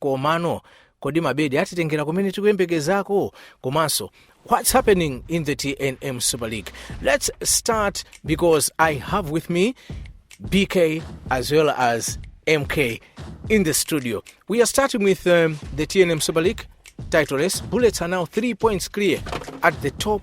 Komano, kodi mabedi atitengera kumene tikuyembekezako? Komanso, what's happening in the tnm super league? Let's start because I have with me BK as well as MK in the studio. We are starting with um, the tnm super league title race. Bullets are now three points clear at the top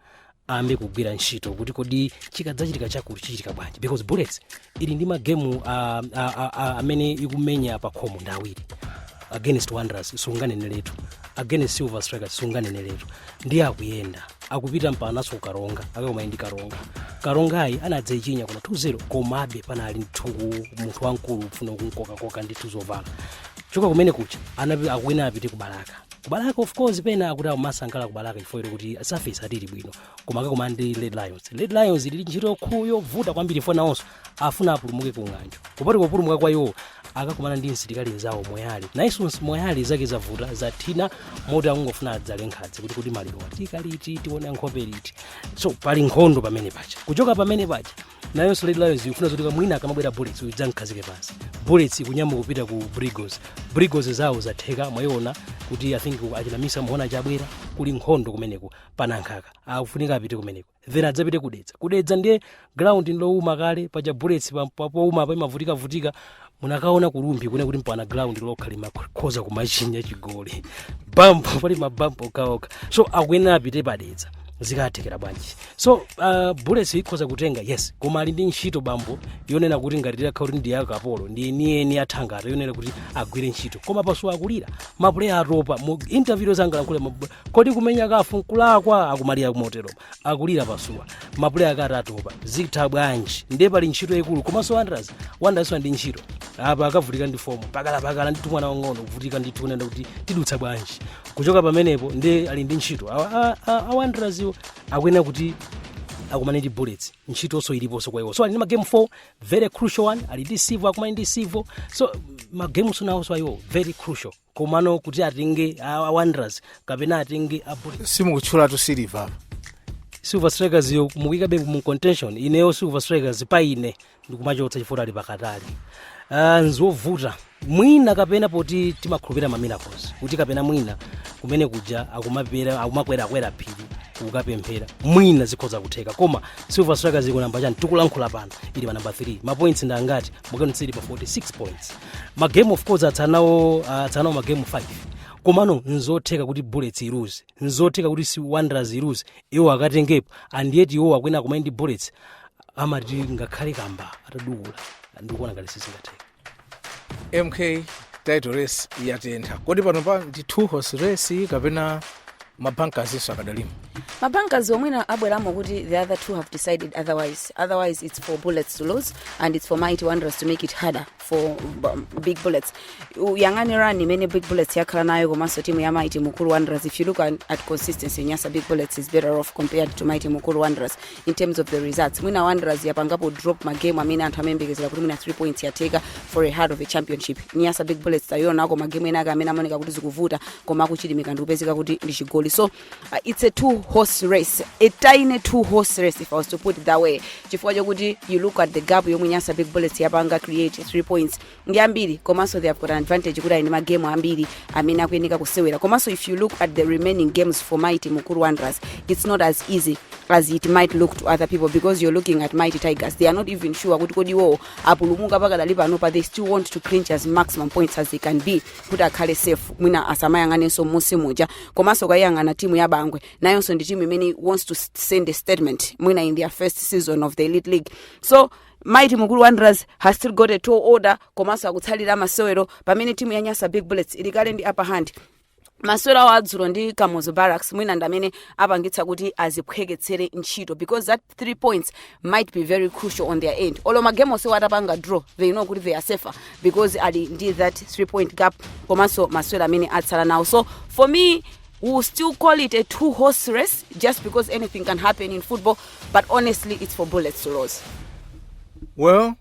ambe kugwira ntchito kuti kodi chikadzachitika chakuti chichitika bwanji because bullets ili ndi magemu uh, uh, uh, amene ikumenya pa khomo ndi awiri against wanderers sunganeneretu against silver strikers sunganeneretu ndiye akuyenda akupita mpanaso karonga akakomane ndi karonga karongayi anadzechinya kuna 2-0 komabe panali mthuku munthu wamkulu kufuna kumkokakoka ndi tuzovala choka kumene kuja anapi- akuyenera apite kubalaka kubalaka of course pena akuti akumasangalala kubalaka chifukwa choti kuti surface ati ili bwino koma akakumana ndi red lions red lions ili ntchito yokhu yovuta kwambiri for nawonso afuna apulumuke ku ng'anjo kupati kupulumuka kwa iwo akakumana ndi msilikali mzawo moyale nayenso moyale zake zavuta zathina moti akungofuna adzale nkhadzi kuti kuti malirowa tiyika liti tione nkhope liti so pali nkhondo pamene paja kuchoka pamene paja nayonso red lions ikufuna zoti kamwina akamabwera bullets uyu idzamkhazike pansi bullets ikunyamuka kupita ku blue eagles blue eagles zawo zatheka mwayiona kuti i think achina micium mhone chabwera kuli nkhondo kumeneko panankhaka akufunika apite kumeneko then adzapite kudedza kudedza ndiye ground nlowuma kale paja bullets pa- pa- powuma pa imavutikavutika munakaona ku rumphi kune kuti mpana ground lokha limakhoza kumachinya chigoli bampu pali mabampu okhaokha so akuyenera apite padedza zikathekera bwanji so uh, bullets ikhoza kutenga yes koma ali ndi ntchito bambo yonena kuti ngati titakhala kuti ndi ya akapolo ndi yeniyeni ya thangata yonena kuti agwire ntchito koma pasuwa akulira mapuleya atopa mu interview zangalankhule kodi kumenya caf nkulakwa akumalira kumoteropa akulira pasuwa mapuleya ake ati atopa zitha bwanji ndiye pali ntchito yayikulu komanso wanderers wanderers ndi ntchito apa akavutika ndi fomu pakalapakala ndi tumwana wang'ono kuvutika ndi tunenda kuti tidutsa bwanji kuchoka pamenepo ndiye ali ndi ntchito a wanderers iwo akuyenera kuti akumane ndi bullets ntchitonso iliponso kwa iwo so ali ndi magame 4 very crucial one ali ndi civo akumane ndi civo so magameso nawonso ayiwo very crucial komano kuti atenge a a wanderers kapena atenge a bullets simukutchulatu silver apa silver strikers yo mukuyikabe mu contention ineyo silver strikers pa ine ndikumachotsa chifukwa ali pakatali uh, nzovuta mwina kapena poti timakhulupirira ma miracles kuti kapena mwina kumene kuja akumapera akumakwerakwera phiri kukapemphera mwina zikhoza kutheka koma silver strikers iko namba chani tikulankhula pano ili pa namba 3 mapoints ndi angati mukani tsili pa 46 points magemu of course atsala nawo atsala nawo magemu 5 komano nzotheka kuti bullets iluze nzotheka kuti si wanderers iluze iwo akatengepo and yet iwo akuyenera akomane ndi bullets amati ngakhale kamba atadukula ndikuona ngati sizingatheka mk title race yatentha kodi panopa ndi two horse race kapena mabankazinso akadalimo mabankas omwena abweramo kuti the other two have decided otherwise otherwise it's for bullets to lose and it's for mighty wanderers to make it harder for um, big bullets uyang'ane run imene big bullets yakhala nayo komanso timu ya mighty mukuru wanderers if you look at, at consistency nyasa big bullets is better off compared to mighty mukuru wanderers in terms of the results mwina wanderers yapangapo drop ma game amene anthu amayembekezera kuti mwina 3 points yatheka for a heart of a championship nyasa big bullets tayionako ma game ena ake amene amaoneka kuti zikuvuta koma akuchilimika ndi kupezeka kuti ndi chigoli so uh, it's a two horse race a tiny two horse race if i was to put it that way chifukwa chokuti you look at the gap yomwe nyasa big bullets yapanga create 3 points ndi ambiri komanso they have got an advantage kuti ali ndi magame ambiri amene akuyeneka kusewera komanso if you look at the remaining games for mighty mukuru wanderers it's not as easy as it might look to other people because you're looking at mighty tigers they are not even sure kuti kodi iwowo apulumuka pakadali pano but they still want to clinch as maximum points as they can be kuti akhale safe mwina asamayang'anenso m'munsi muja komanso ukayiyang'ana timu ya bangwe nayonso ndi timu imene wants to send a statement mwina in their first season of the elite league so mighty mukuru wanderers has still got a tall order komanso akutsalira masewero pamene timu ya nyasa big bullets ili kale ndi upper hand masewero awo adzulo ndi kamuzu barracks mwina ndi amene apangitsa kuti aziphweketsere ntchito because that three points might be very crucial on their end olo magame onsewo atapanga draw they know kuti they are safer because ali ndi that three point gap komanso masewero amene atsala nawo so for me we will still call it a two horse race just because anything can happen in football but honestly it's for bullets to lose well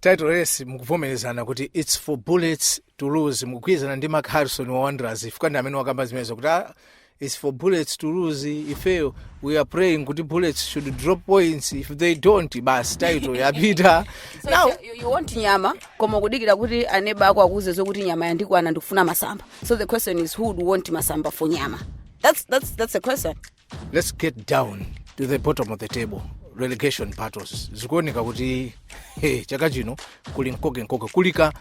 title race mukuvomerezana kuti its for bullets to lose mukugwirizana ndi mark harrison wa wanderers chifukwa ndi amene wakamba zimenezo kuti ah, its for bullets to lose ifeyo we are praying kuti bullets should drop points if they don't basi title yapita so now you, you want nyama koma ukudikira kuti aneba ako akuuze zokuti nyama yandikwana ndikufuna masamba so the question is who would want masamba for nyama that's, that's, that's the question let's get down to the bottom of the table relegation battles zikuoneka kuti hey, chaka chino kuli nkoke nkoke kuli ka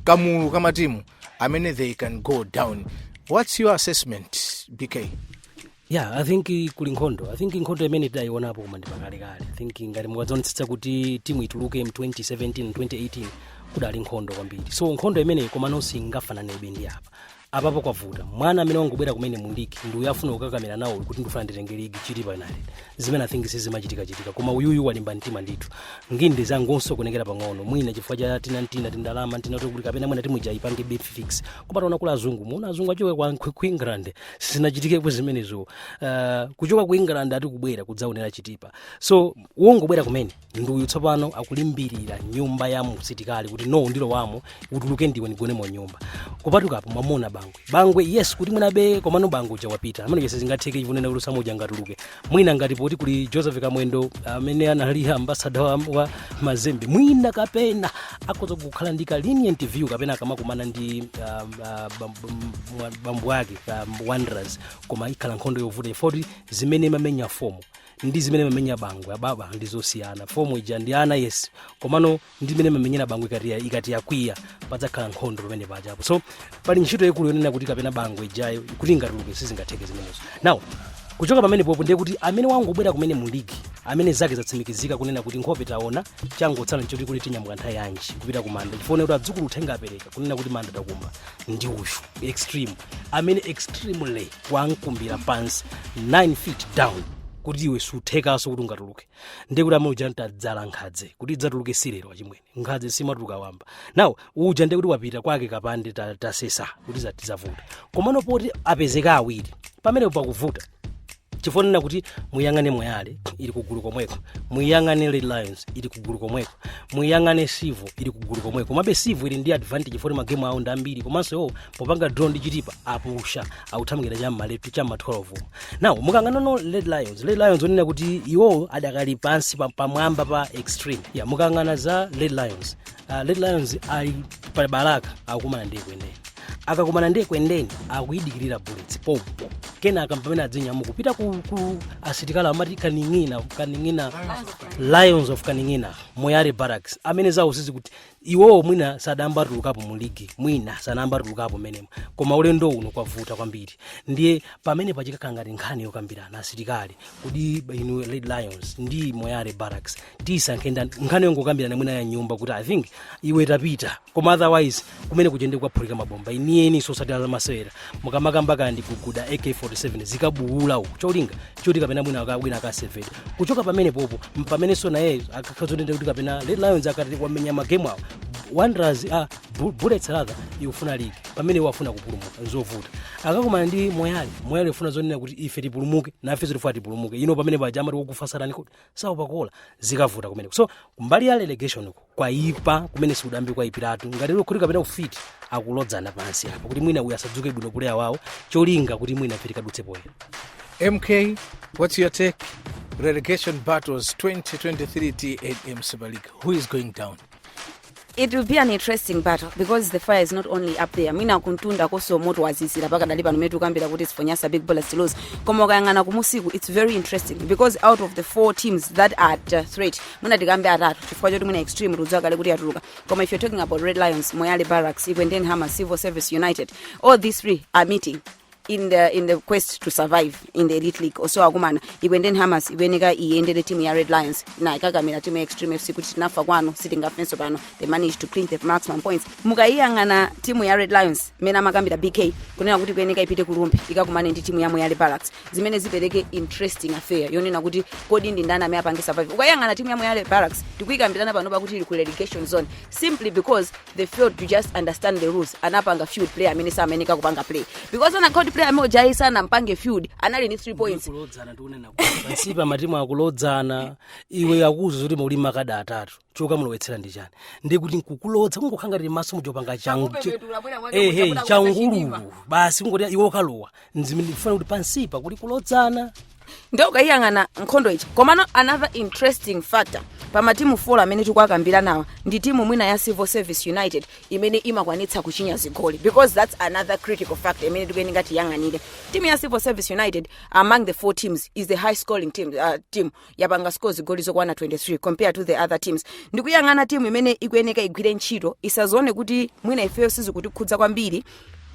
kamulu ka matimu amene they can go down what's your assessment bk yeah i think kuli nkhondo i think nkhondo imene tidayionapo koma ndipakalekale i think ngati mukadzionetsetsa kuti timu ituluke mu 2017 2018 kudali nkhondo kwambiri so nkhondo imeneyi komano singafananebe ndi apa apapo kwavuta mwana amene wangobwera kumene mu ligi ndi uyo afuna kukakamira nawo uyu kuti ndifuna nditenge ligi chitipa united zimene i think sizimachitikachitika koma uyuyu walimba mtima ndithu nginde zangosokonekera pang'ono mwina chifukwa cha tina tina tindalama tina tokuti kapena mwina timu ija ipange big fix koma taona kula azungu muona azungu achoke ku england sizinachitikepo zimenezo uh, kuchoka ku england ati kubwera kudzaonera chitipa so wongobwera kumene ndiuyu tsopano akulimbirira nyumba ya msitikali kuti no ndilowamo utuluke ndiwe ndigonemo nyumba kupatukapo mwamuona bangwe bangwe yes kuti mwinabe komano bangwe uja wapita amene uja sizingatheke chipunena kuti usamuja ngatuluke mwina ngati poti kuli joseph kamwendo amene anali ambasada wa, wa mazembe mwina kapena akhoza kukhala ndi ka lenient view kapena akamakumana ndi um, uh, bam- bam- mwa- bambo ake um, wanderers koma ikhala nkhondo yovuta poti zimene imamenya fomo ndi zimene imamenya bangwe ababa ndi zosiyana fomo ija ndi ana yes komano ndi mmene imamenyera bangwe ikati ya- ikati yakwiya padzakhala nkhondo pamene paja apo so pali ntchito yaikulu yonena kuti kapena bangwe ijayo kuti ingatuluke sizingatheke zimenezo now kuchoka pamene popo ndiye kuti amene wangobwera kumene mu ligi amene zake zatsimikizika kunena kuti nkhope taona changotsala nchoti kuti tinyamuka nthawi yanji kupita ku manda chifukwa kuti adzukulu uthenga apereka kunena kuti manda takumba ndi uyu extreme amene extremely wamukumbira pansi 9 feet down kuti iwe sizithekanso kuti ungatuluke ndiye kuti amene uja tadzala nkhadze kuti idzatuluke si lero achimwene nkhadze simatuluka wamba now uja ndiye kuti wapita kwake kapande ta- tasesa kuti za- tizavuta komano poti apezeka awiri pamene pakuvuta chifukwa chonena kuti muyang'ane moyale ili kugulu komweko muyang'ane red lions ili kugulu komweko muyang'ane civo ili kugulu komweko komabe civo ili ndi advantage chifukwa magemu awo ndi ambiri komanso iwo popanga draw ndi chitipa apusha akuthamukira cha maletu cha ma 12 now mukayang'ana now red lions red lions onena kuti iwo adakali pansi pa- pamwamba pa extreme ya mukayang'ana za red lions uh, red lions ali pa balaka akukumana ndi ekwendeni akakumana ndi ekwendeni akuyidikirira bullets pompo kenaka pamene adzinyamuka kupita ku, ku asitikali amati kaning'ina kaning'ina lions of kaning'ina moyale barracks amene zawo sizikuti iwowo mwina sadayambe atulukapo mu ligi mwina sanayambe atulukapo mmenemo koma ulendo uno kwavuta kwambiri ndiye pamene pa chikanakhala ngati nkhani yokambirana asilikali kodi inu red lions ndi moyale barracks tisankhe ndani nkhani yongokambirana mwina ya m'nyumba kuti i think iwe tapita koma otherwise kumeneku Chende kukaphulika mabomba eni eni sosatira zamasewera mukamakamba kadi guguda ak47 zikabuula uku cholinga choti kapena mwina aka- wina akasevera kuchoka pamene popo mpamenenso naye akakhala zonena kuti kapena Red lions ikati wamenya magemu awo wanderers a Bu- bullets rather ikufuna ligi pamene iwo afuna kupulumuka nzovuta akakumana ndi moyale moyale ifuna zonena kuti ife tipulumuke nafe zotifuna tipulumuke ino pamene paja amati wakufa sa opa kuwola zikavuta kumeneko so kumbali ya relegation uko kwaipa kumene sikudayambe kwaipirapo ngati lero kuti kapena ufiti akulodzana pansi apo kuti mwina uyu asadzuke bwino puleya wawo cholinga kuti mwina ife tikadutse poyera MK, what's your take? Relegation battles 2023 TNM Super League. Who is going down? It will be an interesting battle because the fire is not only up there. Mwina kumtundako so moto wazizira pakadali pano mmene tikukambira kuti it's for Nyasa Big Bullets to lose. Koma ukayang'ana kumusiku it's very interesting because out of the four teams that are at uh, threat, mwina tikambe atatu chifukwa choti mwina extreme tikudziwa kale kuti yatuluka. Koma if you're talking about Red Lions, Moyale Barracks, Ekwendeni Hammers, Civil Service United, all these three are meeting in the in the quest to survive in the elite league osewa akumana Ekwendeni Hammers ikuyeneka iyendere timu ya red lions nayo ikukakamira timu ya extreme fc kuti tinafa kwanu sitingafenso pano they managed to clean the maximum points mukayiyang'ana timu ya red lions imene amakambira bk kunena kuti ikuyeneka ipite ku rumphi ikakumane ndi timu ya moyale barracks zimene zipereke interesting affair yonena kuti kodi ndi ndani amene apange survive ukayiyang'ana timu ya moyale barracks tikuyikambirana pano pakuti ili ku relegation zone simply because they failed to just understand the rules anapanga field player amene samayeneka kupanga play because anakhala kuti player amene ujayi sanampange field anali ndi 3 points kulodzana tikunena pansi pa matimu akulodzana iwe akuuza zoti muli makada atatu chokamulowetsera ndi chani ndi kuti nkukulodza kungokhala ngati maso muchopanga changu Akupepetula, bwera mwake ehe kuchapula kuchapa changululu chidima. basi kungoti iwe ukalowa ndifuna kuti pansipa kuli kulodzana nde ukayiyang'ana nkhondo ija komano another interesting factor pa matimu folo amene tikuwakambiranawa ndi timu mwina ya civil service united imene imakwanitsa kuchinya zigoli because that's another critical factor imene tikuyeneka tiyang'anire timu ya civil service united among the four teams is the high scoring team, uh, team yapanga score zigoli zokwana 23 compared to the other teams ndikuyang'ana timu imene ikuyeneka igwire ntchito isadzione kuti mwina ifeyo sizikutikhudza kwambiri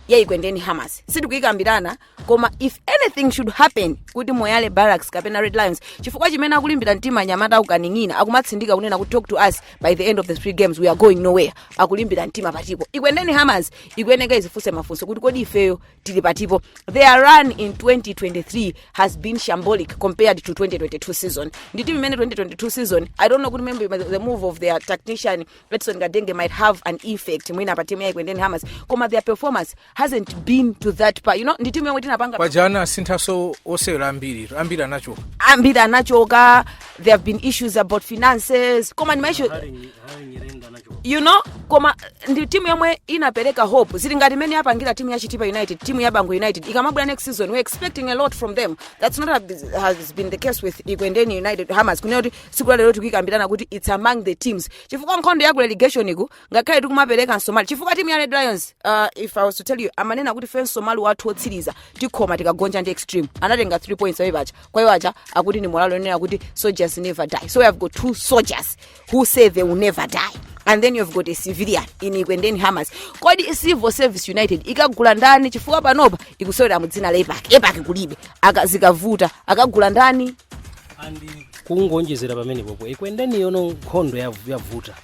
ya Ekwendeni Hammers sitikuyikambirana koma if anything should happen kuti moyale barracks kapena red lions chifukwa chimene akulimbira mtima anyamata a ku Kaning'ina akumatsindika kunena kuti talk to us by the end of the three games we are going nowhere akulimbira mtima patipo Ekwendeni hammers ikuyeneka idzifunse mafunso kuti kodi ifeyo tili patipo their run in 2023 has been shambolic compared to 2022 season ndi timu imene 2022 season i don't know kuti maybe the move of their tactician Edson Kadenge might have an effect mwina pa timu ya Ekwendeni hammers koma their performance hasn't been to that par you know ndi timu yomwe tinapanga paja ana asinthaso osewera ambiri ambiri anachoka ambiri anachoka there have been issues about finances koma ndi maishu you know koma eh, ndi timu yomwe inapereka hope zili ngati imene yapangira timu ya chitipa united timu ya Bangwe united ikamabwera next season we're expecting a lot from them that's not a- has been the case with Ekwendeni united hammers kunena kuti tsiku lalero tikuyikambirana kuti it's among the teams chifukwa nkhondo ya ku relegation iku ngakhale tikumapereka msomali chifukwa timu ya red lions uh, if i was to tell you amanena kuti ife msomali wathu wotsiriza tikhoma tikagonja ndi extreme anatenga 3 points ayi paja kwa iwo aja akuti ndi morale yonena kuti soldiers never die so we have got two soldiers who say they will never die and then you've got a civilian in Ekwendeni hammers kodi civil service united ikagula ndani chifukwa panopa ikusewera mu dzina la epac epac kulibe Aka- zikavuta akagula ndani and kungonjezera pamenepopo Ekwendeni yonso nkhondo yav- yavuta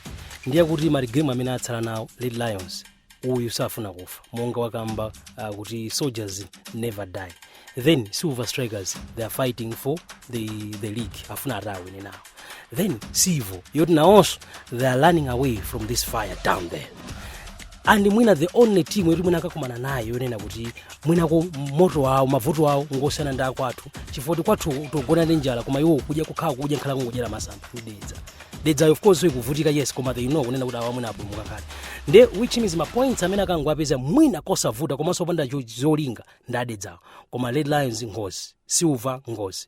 ndi yakuti magemu amene atsala nawo red lions uyu safuna kufa monga wakamba uh, kuti soldiers never die then silver strikers they are fighting for the, the league afuna atawina nawo then Civo yoti nawonso they are running away from this fire down there and mwina the only team yoti mwina akakumana nayo yonena kuti mwina ku Moto awo mavuto wawo ngosiyana ndi akwathu chifukwa kuti kwathu tikugona ndi njala koma iwo kudya kukhala kudya nkhala kungodyera masamba ndi dedza dedzayo of course ikuvutika yes koma they know kunena kuti awa mwina apulumuka kale ndiye which means ma points amene akanawapeza mwina kosavuta komanso opanda cho- zolinga ndi adedzawo koma red lions ngozi silver ngozi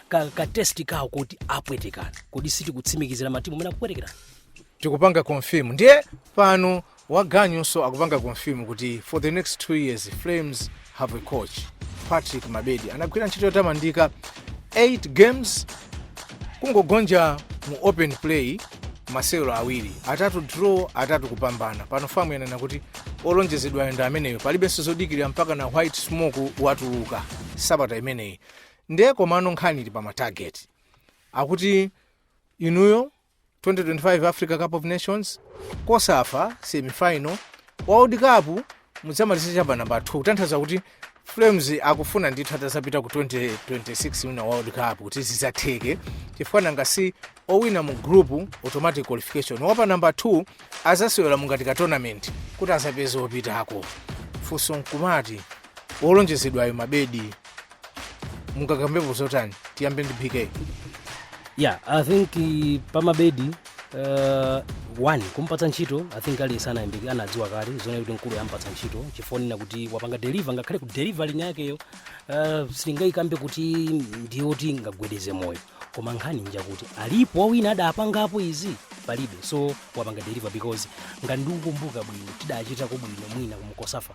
ka, ka test kawo kuti apwetekana kuti sitikutsimikizira matimu amene akupwetekerana tikupanga confirm ndiye pano wa ganyunso akupanga confirm kuti for the next two years flames have a coach patrick mabedi anagwira ntchito yotamandika 8 games kungogonja mu open play masewero awiri atatu draw atatu kupambana pano FAM yanena kuti olonjezedwayo ndi ameneyo palibenso zodikirira mpaka na white smoke watuluka sabata imeneyi ndiye komano nkhani ili pa ma target akuti inuyo 2025 africa cup of nations COSAFA semifinal world cup mudzamaliza chapa namba 2 kutanthaza kuti flames akufuna ndithu atazapita ku 2026 FIFA world cup kuti zidzatheke chifukwa nanga si owina mu group automatic qualification wapa namba 2 azasewera ngati ka tournament kuti azapeze opitako funso nkumati wolonjezedwayo mabedi mungakambepo zotani tiyambe ndi pk yeah i think eh, pamabedi uh, one kumpatsa ntchito i think aliyense anayambika anadziwa kale zonena kuti mkulu yampatsa ntchito chifukwa chonena kuti wapanga deliver ngakhale ku deliver kwakeko uh, sitingayikambe kuti ndiyoti ingagwedeze moyo koma nkhani njakuti alipo wina adapangapo izi palibe so wapanga deliver because ngati ndikukumbuka bwino tidachitako bwino mwina ku COSAFA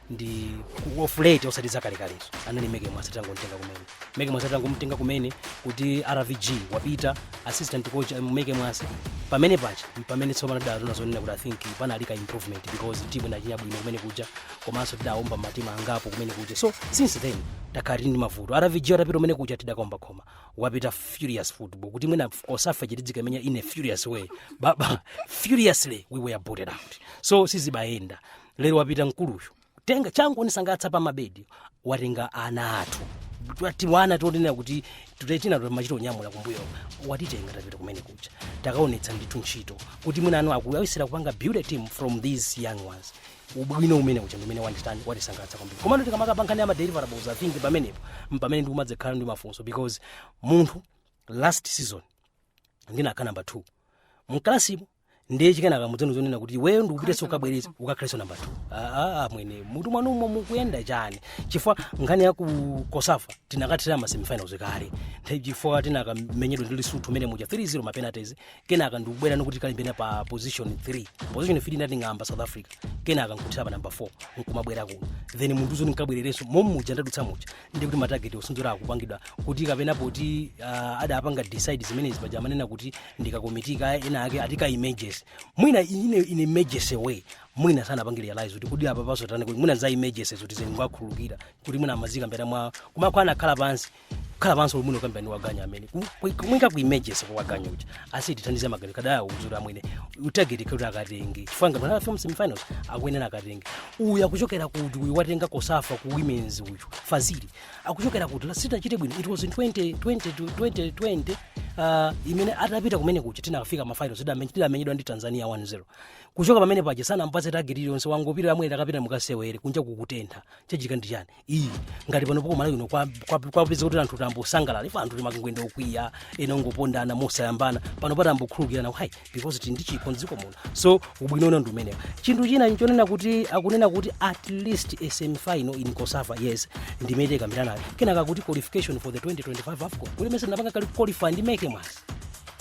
ndi of late osati zakalekalezo anali meke mwase atangomtenga kumene meke mwase atangomtenga kumene kuti rvg wapita assistant coach um, meke mwase pamene paja pamene tsopano tidaona zonena kuti i think panali ka improvement because timu inachita bwino kumene kuja komanso tidaomba matimu angapo kumene kuja so since then takhala tili ndi mavuto rvg atapita kumene kuja tidakaomba khoma wabwera furious football kuti mwina COSAFA tidzikaimenya in a furious way baba furiously we were booted out so sizimayenda lero wapita mkuluyu tenga chandisangalatsa pa mabedi watenga ana athu tiana tonena kuti tina timachita konyamula kumbuyo watitenga tapita kumene kuja takaonetsa ndithu ntchito kuti mwina anthu akuyesera kupanga build a team from these young ones ubwino kumene kuja ndimene watitani watisangalatsa kwambiri komano tikamakamba nkhani ya ma deliverables i think pamenepo mpamene ndikumadzekhala ndi mafunso because munthu last season ndinakhala namba 2 mkalasimu ndiye kenaka mudzamuuza zonena kuti iweyo ndikupitanso ukabwereze ukakhalenso namba 2 aa amwene mutu mwanumo mukuyenda chani chifukwa nkhani ya ku cosafa tinakathera ma semifinals kale Nthe- chifukwa tinakamenyedwa ndi lesotho mene muja 3-0 ma penalties kenaka ndikubwera nikuti tikalimbane pa position 3 position 3 idating'amba south africa kenaka nkuthera pa namba 4 nkumabwera kuno then mundiuze ndikabwererenso mommuja ndadutsa muja ndi kuti matageti osunthira akupangidwa kuti kapena poti uh, adapanga decide zimenezi paja amanena kuti ndi kakomiti kena kake ati ka emergency mwina ine in emergency way mwina sanapange realize kuti kodi apapa zotani kuti mwina za emergency zoti zeni mwakhulukira kuti mwina amazikambira mwa kumakho anakhala pansi kukhala pansi kuti mwina kukambirana waganyu amene amuika ku emergency kwa waganyu uja azitithandiza magari kada auzura mwene tageti kuti akatenge chifukwa ngati anafika m'ma semifinals akuyenera akatenge uyu akuchokera kuti uyu watenga cosafa ku women's uyu fazili akuchokera kuti last titachita bwino it was in 2020 to 2020 uh, imene atapita kumene kuja tinafika mafinals tidame- tidamenyedwa ndi tanzania 1-0 kuchoka pamene paja sanampatse tageti iliyonse wangopita amwene takapita mukasewere kunja kukutentha chachitika ndi chani iyi ngati panopo ku malawi kuno kwapeza kuti anthu tayambosangalala ife anthu timangoyenda okwiya ena ongopondana mosayambana panopa tayambokhululukirana hai because tili ndi chikho mdziko muno so ubwino uno ndi umenewo chinthu china nchonena kuti akunena kuti at least semifinal in cosafa yes ndimene takambiranayo kenaka kuti qualification for the 2025 afcon kuti mesa ndinapanga kale qualify ndi meke mwase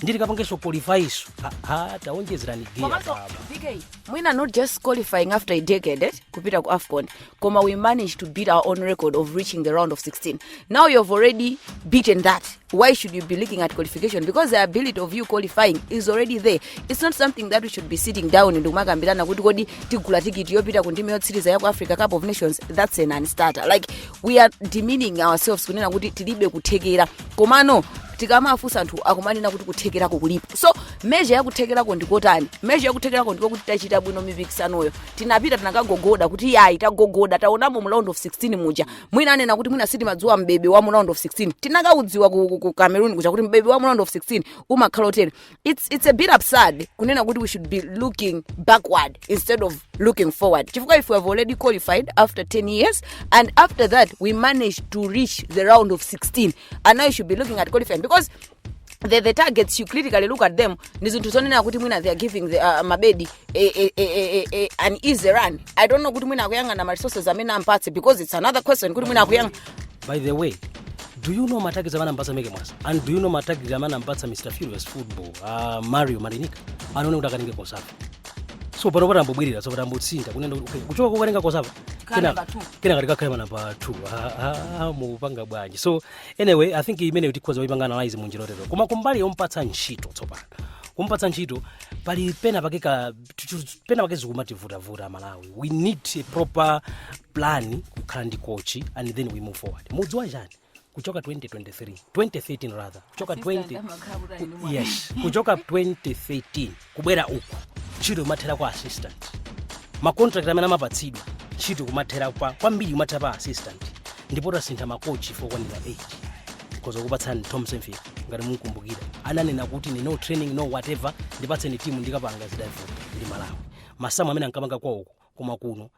ndikapangenso qualify isu aha taonjezerani gear komanso baba vk mwina not just qualifying after a decade eh, kupita ku afcon koma we managed to beat our own record of reaching the round of 16 now you have already beaten that why should you be looking at qualification because the ability of you qualifying is already there it's not something that we should be sitting down ndikumakambirana kuti kodi tigula tikiti yopita ku ndime yotsiriza ya ku africa cup of nations that's a non-starter like we are demeaning ourselves kunena kuti tilibe kuthekera komano tikamafunsa anthu akumanena kuti kuthekerako kulipo so measure yakuthekerako ndikotani measure yakuthekerako ndiko kuti tachita bwino mipikisanoyo tinapita tinakagogoda kuti yayi tagogoda taonamo mu round of 16 muja mwina anena kuti mwina sitimadziwa mbebe wa mu round of 16 tinakaudziwa ku, ku, ku cameroon kuja kuti mbebe wa mu round of 16 umakhala otere it's, it's a bit absurd kunena kuti we should be looking backward instead of looking forward chifukwa if we have already qualified after 10 years and after that we managed to reach the round of 16 and now you should be looking at qualifying because the, the targets you critically look at them ndi zinthu zonena kuti mwina they are giving the, uh, mabedi a, a, a, a, a, an easy run i don't know kuti mwina akuyang'ana ma resources amene ampatse because it's another question kuti mwina akuyang'ana by the way do you know matargets amene ampatsa meke mwase and do you know matargets amene ampatsa mr furious football uh, mario marinica anaone kuti akaninge cosafa so panopa tayambobwerera so apa tayambotsika kunena kuti, okay, kuchoka kokaninga cosafa Khala number two. kenaka tikakhale namba 2 mupanga bwanji so anyway i think imeneyo tikhoza kuipanga analyze mu njira yotero koma kumbali yompatsa ntchito tsopano kumpatsa ntchito pali pena pake ka chu- pena pake zikumativutavuta amalawi we need a proper plan kukhala ndi kochi and then we move forward mudziwa chani kuchoka 2023 2013 rather kuchoka 20 yes kuchoka 2013 kubwera uku ntchito imathera kwa assistant ma contract amene amapatsidwa ntchito kumathera kwa kwambiri kumathera pa assistant ndipo tasintha makochi okwanira 8 nkhoza kupatsani tom saintfiet ngati mumkumbukira ananena kuti ni no training no whatever ndipatseni timu ndikapanga zidavuta ndi malawi masamu amene ankapanga kwawoko koma kuno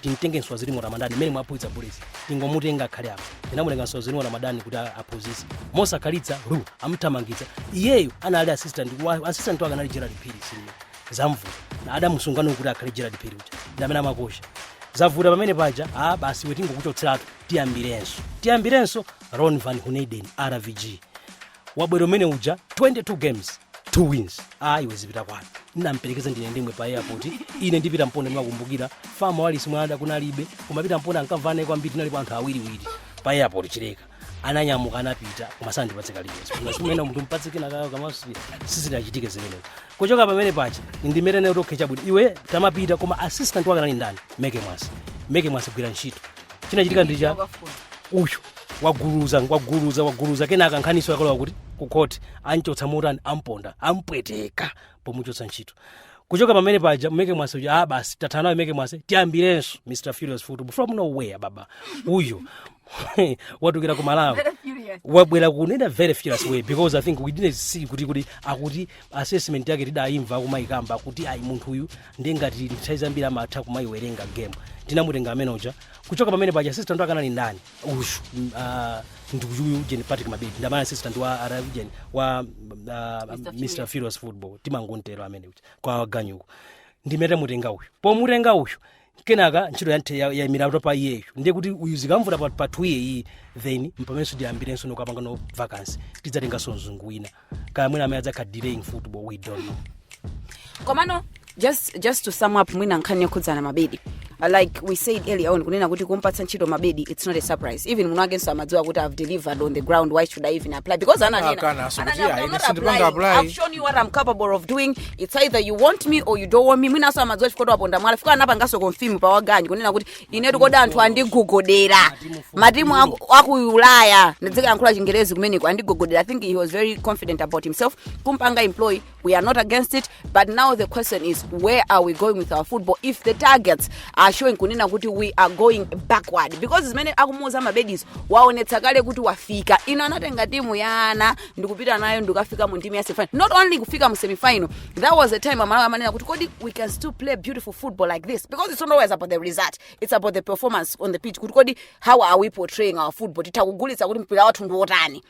timtenge nsanzurwimo ramadhan mmene mwaphunzitsa bullets tingomutenga akhale apa tinamutenga nsanzurwimo ramadhan kuti a- aphunzitse mosakhalitsa ru amthamangitsa iyeyo anali assistant wa- assistant wake anali gerald phiri senior zamvuta na adamusungano kuti akhale gerald phiri uja ndamene amakocha zavuta pamene paja a basi iwe tingokuchotseratu tiyambirenso tiyambirenso ron van geneugden rvg wabwera amene uja 22 games two wins ayi iwe zipita kwanu ndinamperekeza ndine ndemwe pa airport ine ndi peter mponda ndimakumbukira fama walisi mwana kunalibe koma peter mponda ankamvana kwambiri tinaliko anthu awiriwiri pa airport chileka ananyamuka anapita koma sandipatse kalikonse ngasimena munthu mpatse kinakake kamaso sizinachitike zimenezo kuchoka pamene paja ndi mmene anati okay chabwino iwe tamapita koma assistant wake anali ndani meke mwase meke mwase gwira ntchito chinachitika ndi chani uyu waguluza waguluza waguluza kenaka nkhaniso yakalowa kuti kukhoti anchotsa motani amponda ampweteka pomuchotsa ntchito kuchoka pamene paja meke mwase uja ah basi tathana naye meke mwase tiyambirenso mr furious football from nowhere baba uyu watulukira ku malawi wabwera kunena very furious way because i think we didn't see kuti kuti akuti assessment yake tidayimva akumayikamba akuti ayi munthu uyu ndiye ngati nthawi zambiri amatha kumayiwerenga game tinamutenga amene uja kuchoka pamene paja assistant wake anali ndani uyu mm, ah, ndi uyu ujeni patrick mabedi ndamene anali assistant wa ara ujeni wa ah, mr furious football timangontero amene uja kwa ganyuko ndi mmene tamutenga uyu pomutenga uyu kenaka ntchito yanthe ya- yayimira kuti pa iyeyo ndiye kuti uyu zikamvuta pa- pa two year iyi then mpamenenso tiyambirenso nkukapanganso vacancy tidzatenganso mzungu wina kaya mwina amene adzakhala delaying football we don't know komano just just to sum up mwina nkhani yokhudzana mabedi Uh, like we said earlier on kunena kuti kumpatsa ntchito mabedi it's not a surprise even mwini akenso amadziwa kuti i've delivered on the ground why should i even apply because Akana, ananenanso kuti, "Yeah, ine sindipanga apply." i've shown you what i'm capable of doing it's either you want me or you don't want me mwinanso amadziwa chifukwa waponda mwala fika anapanganso confirm pa wa ganyu kunena kuti inetu kodi anthu andigogodera matimu aku- aku ulaya ndidzikayankhula chingerezi kumeneko andigogodera i think he was very confident about himself kumpanga employ we are not against it but now the question is where are we going with our football if the targets are showing kunena kuti we are going backward because zimene akumuuza mabedizo waonetsa kale kuti wafika ino anatenga timu ya ana ndikupita nayo ndikafika mu ndime ya semifinal not only kufika mu semifinal that was the time amalawi amanena kuti kodi we can still play beautiful football like this because it's not always about the result it's about the performance on the pitch kuti kodi how are we portraying our football titha kugulitsa kuti mpira wathu ndi wotani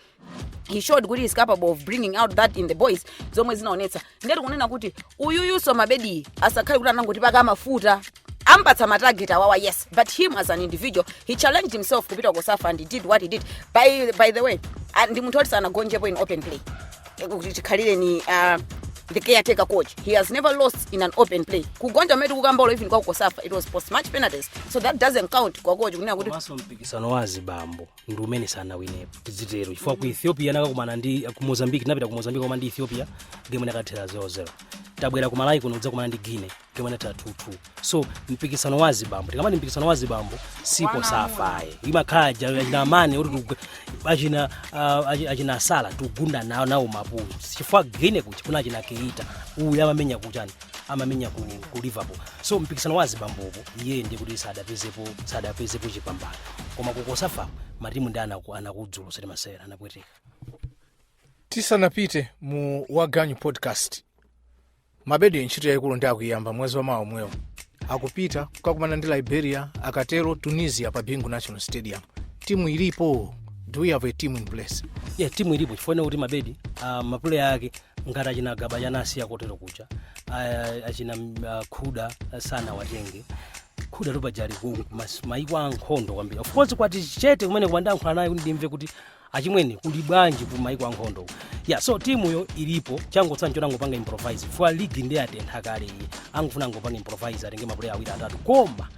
he showed kuti he's capable of bringing out that in the boys zomwe zinaonetsa ndiye tikunena kuti uyuyuso mabedi asakhale kuti anangotipaka mafuta ampatsa matarget awawa yes but him as an individual he challenged himself kupita ku cosafa and he did what he did by, by the way ah, ndi munthu oti sanagonjepo in open play Eh, kuti chikhalireni uh, the caretaker coach he has never lost in an open play kugonja kumene tikukambako even kwa ku cosafa it was post match penalties so that doesn't count kwa coach kunena kuti komanso mpikisano wa azibambo ndi umene sanawinepo tidzitero chifukwa ku ethiopia anakakumana ndi ku mozambique tinapita ku mozambique koma ndi ethiopia game inakathera 00 tabwera ku malawi kuno kudzakumana ndi guinea game inathera 22 so mpikisano wa zibambo tikamati mpikisano wa zibambo si cosafayi imakhala ja- achina mane oti tigu- achina ah, achi- achina salah tigunda nawo nawo mapulo chifukwa guinea kuja kuna achina keita uyu amamenya kuchani amamenya ku, ku liverpool so mpikisano wa azibambopo iye ndiye kuti sadapezepo sadapezepo chipambano koma ku cosafa matimu ndi anaku- anakudzula osati masewera anapweteka tisanapite mu waganyu podcast mabedi ntchito yayikulu ndi akuyamba mwezi wamawa omwewo akupita kukakumana ndi liberia akatero tunisia pa bingu national stadium timu ilipo do we have a team in place yeah timu ilipo chifukwa kuti mabedi uh, mapuleya ake ngati achina gaba chana asiya kotero kuja a- achina mm, ah, khuda sanawatenge khudatu paja ali maiko a nkhondo kwambiri of course kwati chete kumene koma ndiyankhula naye kuti ndimve kuti achimwene kuli bwanji ku maiko a nkhondo ya so timuyo ilipo changotsala nchoti angopanga improvise chifukwa ligi ndi yatentha kale iyi angofuna angopanga improvise atenge mapuleya awiri atatu koma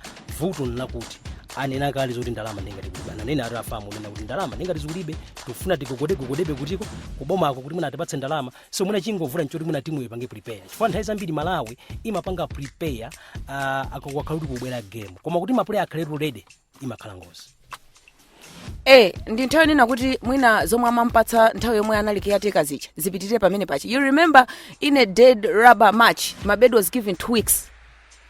vuto nlakuti anena kale zoti ndalama ndingati kulibe ananena ati a fam kunena kuti ndalama ndingati zikulibe tikufuna tigogodegogodebe kutiko kubomako kuti mwina atipatse ndalama so mwina chongovuta nchoti mwina timu ipange prepare chifukwa nthawi zambiri malawi imapanga prepare uh, akakhala kuti kubwera game koma kuti mapuleya akhaletu ready imakhala ngozi eh ndi nthawi kunena kuti mwina zomwe amampatsa nthawi yomwe anali caretaker zija zipitirire pamene paja you remember in a dead rubber match mabedi was given two weeks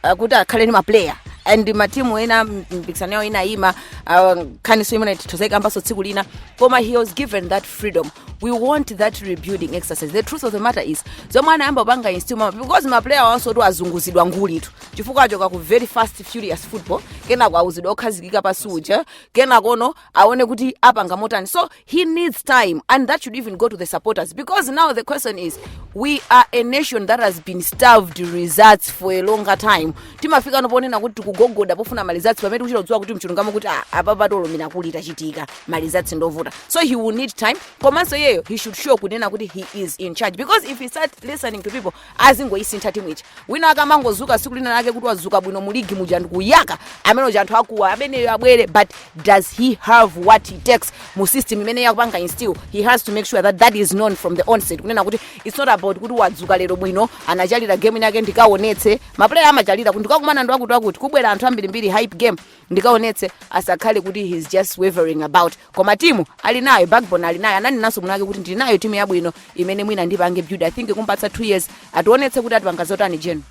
uh, kuti akhale ni maplayer and matimu ena m- mpikisano yawo inayima uh, nkhaniso imene titha kudzakambanso tsiku lina koma he was given that freedom we want that rebuilding exercise the truth of the matter is zomwe anayamba kupanga instill because maplayerwansotu azunguzidwa ngulitu chifukwa achoka ku very fast furious football kenako auzidwa wokhazikika pansi uja kenakono aone kuti apanga motani so he needs time and that should even go to the supporters because now the question is we are a nation that has been starved results for a longer time timafika noponena kuti tikugogoda pofuna maresults pamene tikuchita kudziwa kuti mchilungamo kuti ah, apa patolomera kuti tachitika maresults ndovuta so he will need time komanso iyeyo he should show kunena kuti he is in charge because if he start listening to people azingoisintha timu ija wina wake amangozuka siku lina lake kuti wazuka bwino mu ligi muja n'kuyaka amene uja anthu akuwa ameneyo abwere but does he have what it takes mu system imene akupanga instill he has to make sure that that is known from the onset kunena kuti it's not about kuti wadzuka lero bwino anachalira game inayake ndikaonetse maplayer amachalira kuti ndikakumana ndi wakuti wakuti kubwera anthu ambirimbiri hype game ndikaonetse asakhale kuti he's just wavering about koma timu ali nayo backbone ali nayo ananenanso munake kuti ndili nayo timu yabwino imene mwina ndipange build i think kumpatsa 2 years ationetse kuti atipanga zotani Jeno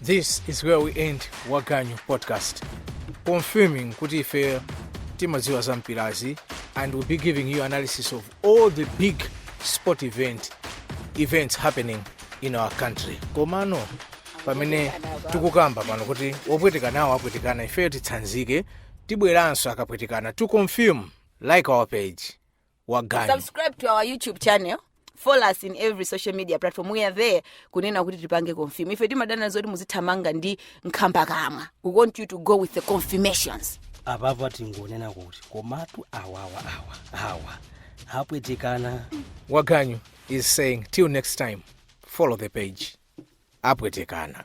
This is where we end Wa Ganyu podcast. Confirming kuti ife timadziwa za mpirazi and we'll be giving you analysis of all the big sport events happening in our country komano pamene tikukamba pano kuti opwetekanawo apwetekana ifeyo titsanzike tibweranso akapwetekana to confirm like our page Wa Ganyu Subscribe to our YouTube channel. Follow us in every social media platform. We are there. kunena kuti tipange confirm ife timadana nzoti muzithamanga ndi nkhambakamwa we want you to go with the confirmations apapa tingonena kuti komatu awawa awa awa apwetekana Wa Ganyu is saying till next time follow the page apwetekana